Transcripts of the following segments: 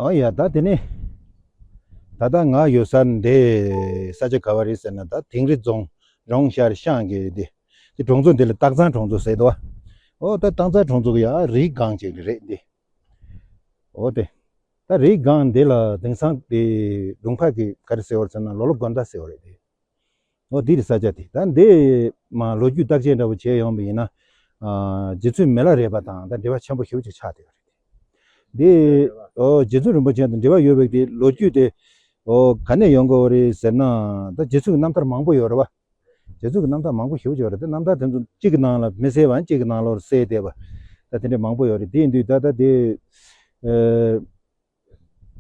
ཨ་ཡ་ད་དེ་ནས། ད་ལྟ་ང་ཡོད་སར་འདི་ས་ཆ་ག་བ་རེད་ཟེར་ན་ད་དིང་རི་རྫོང་རོང་ཤར་ཤང་གི་འདི་འདི་གྲོང་ཚོ་འདི་ལ་སྟག་ཚང་གྲོང་ཚོ་ཟེར་དོ། ཨོ་ད་སྟག་ཚང་གྲོང་ཚོ་གི་ཡ་རིའི་སྒང་ཅིག་རེད་འདི། ཨོ་དེ། ད་རིའི་སྒང་འདི་ལ་དེང་སང་འདི་སྒྲུང་ཕག་གི་ག་རེ་ཟེར་བར་མཚོན་ན་ལོ་ལོ་དགོན་ཟླ་ཟེར་བ་རེད་འདི། ཨོ་འདི་རི་ས་ཆ་དེ་ད་འདི་མ་ལོ་རྒྱུས་བརྟག་དཔྱད་འདྲ་བོ་བྱས་ཡོང་བ་ཡིན་ན། རྗེ་བཙུན་མེ་ལ་རས་པ་དང་ད་འབྲེལ་བ་ཆེན་པོ་ཞིག་ཆགས་བསྡད་ཡོད་རེད། འདི་ཨོ་རྗེ་བཙུན་རིན་པོ་ཆེ་དང་འབྲེལ་བ་ཡོད་པའི་དེ་ལོ་རྒྱུས་དེ་ཨོ་ག་ནས་ཡོང་དགོས་རེད་ཟེར་ན་ད་རྗེ་བཙུན་གྱི་རྣམ་ཐར་མང་པོ་ཡོད་རེད་བ། རྗེ་བཙུན་གྱི་རྣམ་ཐར་མང་པོ་ཞིག་ཡོད་རེད་དེ་རྣམ་ཐར་དེ་ཚོ་གཅིག་གི་ནང་ལ་མི་གསལ་བའང་གཅིག་གི་ནང་ལོར་གསལ་བསྡད་པ། ད་དེ་འདྲའི་མང་པོ་ཡོད་རེད་དེ་འདུས་ད་ད་དེ།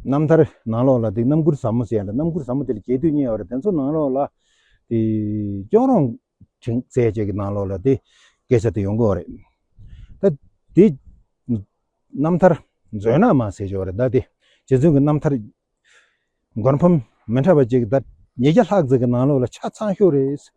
རྣམ་ཐར། ནང་ལོགས་ལ་དེ་རྣམ་མགུར་ཟབ་མོ་ཟེར་ཡང་རྣམ་མགུར་ཟབ་མོ་དེ་ལ་རྒྱས་བསྡུས་གཉིས་ཡོད་པ་རེད་དེ་ཚོ་ནང་ལོགས་ལ། དེ། སྐྱོན་རོང། དྲིན། ཟས་བཅས་ཀྱི་ནང་ལོགས་ལ་དེ། སྐད་ཆ་དེ་ཡོང་གི་ཨོ་རེད། ད། དེ། རྣམ་ཐར། མཛོད་ནག་མ་ཟེར་གྱི་ཨོ་རེད་ད་དེ། རྗེ་བཙུན་གྱི་རྣམ་ཐར། མགོན་ཕམ། མི་འཕྲད་པ་བཅས་ཀྱི་ད། ཉིས་བརྒྱ་ལྷག་ཙམ་གྱི་ནང་ལོགས་ལ་ཆ་ཚང་ཤོས་རེད།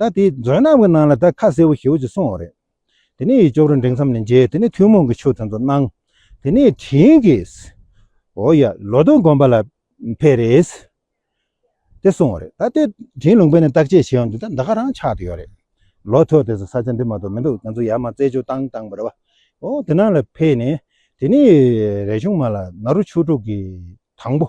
ད་དེ་མཛོད་རྣམས་ཀྱི་ནང་ལ་དེ་ཁ་གསལ་བོ་ཞེ་བོ་ཅིག་སོང་བ་རེད། དེ་ནས་ཡིད་སྐྱོ་རུ་འགྲེང་མཚམས་ནས་མཇལ་དེ་ནས་ཐུན་མོང་གི་ཆོས་དེ་ཚོ་གནང། དེ་ནས་དྲིན་གྱིས། འོ་ཡ། ལོ་སྟོང་སྒོམ་པ་ལ་ཕེབས་རེས། དེ་སོང་བ་རེད། ད་དེ་དྲིན་ལུང་པས་ནས་བརྟག་དཔྱད་བྱས་ཡོང་དུས་ད་ཟླ་ག་རང་ཆགས་དུ་ཡོད་རེད། ལོ་ཐོ་དེ་ཚོ་ས་ཆ་འདི་མ་གཏོགས་མི་འདུག་ང་ཚོ་ཡར་མར་རྩེད་འཇོ་བཏང་བཏང་བ་རེད་བ། འོ་དེ་ནང་ལ་ཕེབས་ནས་དེ་ནས་རས་ཆུང་མ་ལ་ནཱ་རོ་ཆོས་དྲུག་གི་དང་པོ།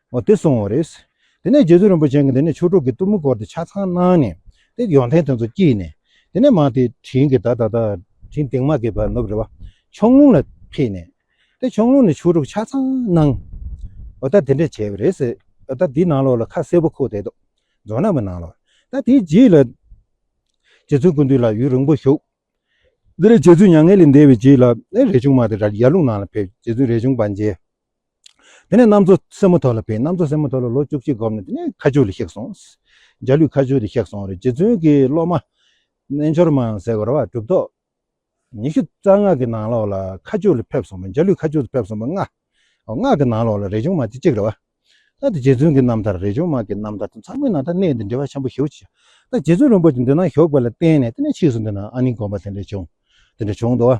བ་དེ་སོང་བ་རེད། དེ་ནས་རྗེ་བཙུན་རིན་པོ་ཆེན་གྱིས་དེ་ནས་ཆོས་དྲུག་གི་གཏུམ་མོ་བསྐོར་ཏེ་ཆ་ཚང་གནང་ནས། དེ་ཡོན་ཏན་དེ་ཚོ་བསྐྱིལ་ནས། དེ་ནས་མང་དེས་དྲིན་གྱིས་ད་ད་ད། དྲིན་དེང་མ་གིས་བར་ནུབ་རེ་བ། ཆོང་ལུང་ལ་ཕེབས་ནས། དེ་ཆོང་ལུང་ནས་ཆོས་དྲུག་ཆ་ཚང་གནང། བ་ད་དེ་འདྲས་བྱས་པ་རེད། བ་ད་དེའི་ནང་ལོགས་ལ་ཁ་སེར་པོ་ཁུག་བསྡད་འདུག་རྫོང་ནག་པོའི་ནང་ལོགས། ད་དེའི་རྗེས་ལ། རྗེ་བཙུན་ཀུན་འདུས་ལགས་ཡུན་རིང་པོ་བཞུགས། དེ་ནས་རྗེ་བཙུན་མྱ་ངན་ལས་འདས་པའི་རྗེས་ལ། རས་ཆུང་མ་དེ་ར་ཡར་ལུང་ནང་ལ་ཕེབས། རྗེ་བཙུན་རས་ཆུང་པ་མཇལ། དེ་ནས་གནམ་མཚོ་སེར་མོ་ཐོག་ལ་བེད། གནམ་མཚོ་སེར་མོ་ཐོག་ལ་ལོ་བཅུ་གཅིག་བསྒོམས་ནས་དེ་ནས་ཁ་ཆུ་ལ་གཤེགས་སོང། འཇའ་ལུས་ཁ་ཆུ་ལ་གཤེགས་སོང། རྗེ་བཙུན་གྱི་སློབ་མ། རྣལ་འབྱོར་མ་ཟེར་བ་རོ། གྲུབ་ཐོབ། ཉི་ཤུ་རྩ་ལྔ་གི་ནང་ལོགས་ལ་ཁ་ཆུ་ལ་ཕེབས་སོང་བས་འཇའ་ལུས་ཁ་ཆུ་ལ་ཕེབས་སོང་བས་སྔགས། སྔགས་ཀྱི་ནང་ལོགས་ལ་རས་ཆུང་མ་དེ་གཅིག་རེད་བ། ད་རྗེ་བཙུན་གྱི་རྣམ་ཐར་རས་ཆུང་མ་གི་རྣམ་ཐར་དང་ཚང་མའི་ནང་ཐ་གནས་འདི་འབྲེལ་བ་ཆེན་པོ་ཞེ་བོ་ཅི། ད་རྗེ་བཙུན་རིན་པོ་ཆེ་འདི་ན་ཞོགས་པ་ལ་བརྟེན་ནས་དེ་ནས་ཕྱིས་སུ་འདི་ན་ཨ་ནི་བསྒོམ་པ་དེ་འདྲ་བྱུང། དེ་འདྲ་བྱུང་འདུག་བ།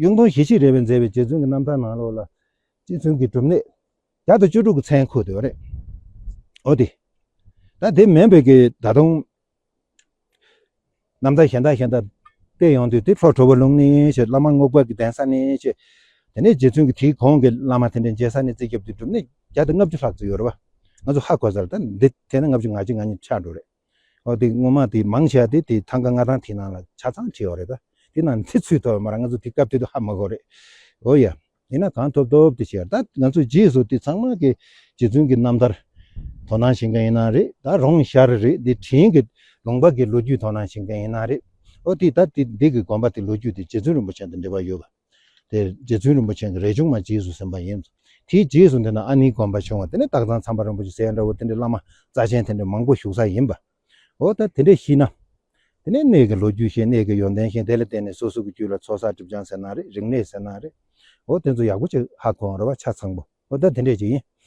གཡུང་དྲུང་ཞི་བྱེད་རེ་བས་མཛད་པའི་རྗེ་བཙུན་གྱི་རྣམ་ཐར་ནང་ལོགས་ལ། རྗེ་བཙུན་གྱི་སྒྲུབ་གནས་བརྒྱ་དང་བཅུ་དྲུག་གི་མཚན་འཁོད་འདུག་རེད་འོ་དེ། ད་དེ་མིན་བོད་ཀྱི་ད་དུང་རྣམ་ཐར་གཞན་དག་གཞན་དག་བལྟས་ཡོང་དུས་དེབ་ཧྲོག་ཁྲོ་བོ་ལུང་ནི་ཞེས་བླ་མ་རྔོག་པ་གི་གདན་ས་ནི་ཞེས། དེ་ནས་རྗེ་བཙུན་གྱི་དེའི་གོང་གི་བླ་མ་དེ་འདྲའི་མཇལ་ས་ནས་རྩིས་རྒྱབ་དུས་སྒྲུབ་གནས་བརྒྱ་དང་ལྔ་བཅུ་ལྷག་བརྩིས་ཡོད་རེད་པ། ང་ཚོ་ཧ་གོ་ས་རེད་ད་འདི་ཐད་ན་ལྔ་བཅུ་ང་གཅིག་ང་གཉིས་ཆགས་འགྲོ་རེད། ཨོ་དེ་ངོ་མ་དེ་མང་ཆེ་བ་དེ་དེ་ཐང་ག་ལྔ་ཐང་དེ་ནང་ལ་ཆ་ཚང་བྱེད་ཡོད་རེད་ད། དེ་ནང་ཚེ་ཚུད་ཐོབ་ཡོད་མ་རེད་ང་ཚོ་དེ་སྐབས་དེ་དུ་ཧ་མི་གོ་རེད། ཨོ་ཡ། ཡིན་ན་གང་ཐོབ་ཐོབ་དེ་བྱེད་ཡོད་རེད་ད། ང་ཚོ་རྗེས་སུ་དེ་ཚང་མ་གི་རྗེ་བཙུན་གི་རྣམ་ཐར་དོ་སྣང་བྱེད་མཁན་ཡིན་ན་རེད་ད་རོང་ཤར་རེད་དེ་དྲིན་གི་ལུང་པ་གི་ལོ་རྒྱུས་དོ་སྣང་བྱེད་མཁན་ཡིན་ན་རེད། ཨོ་དེ་ད་དེ་འདི་གི་དགོན་པ་དེ་ལོ་རྒྱུས་དེ་རྗེ་བཙུན་རིན་པོ་ཆེན་དང་འབྲེལ་བ་ཡོད་གི། དེ་རྗེ་བཙུན་རིན་པོ་ཆེན་གྱི་རས་ཆུང་མ་རྗེས་སུ་ཟིན་པ་ཡིན། དེའི་རྗེས་སུ་འདི་ན་ཨ་ནིའི་དགོན་པ་བྱུང་བ་དེ་ནི་སྟག་ཚང་ཚངས་པ་རིན་པོ་ཆེ་སེ་འདྲ་བོ་དེ་འདྲའི་བླ་མ་རྩ་ཆེན་དེ་འདྲའི་མང་པོ་བཞུགས་ས་ཡིན་པ། འོ་ད་དེ་འདྲས་ཤི་ན། དེ་ནས་གནས་ཀྱི་ལོ་རྒྱུས་ཤེས་གནས་ཀྱི་ཡོན་ཏན་ཤེས་དེ་ལ་བརྟེན་ནས་སོ་སོ་གྱི་རྒྱུད་ལ་ཚོགས་བསགས་སྒྲིབ་སྦྱང་ཟེར་ན་རེད་རིག་གནས་ཟེར་ན་རེད། འོ་དེ་ཚོ་ཡག་པོ་ཅིག་ཧ་གོ་འོང་རེ་བ་ཆ་ཚང་པོ་འོ་ད་དེ་འདྲས་ཅིག་ཡིན།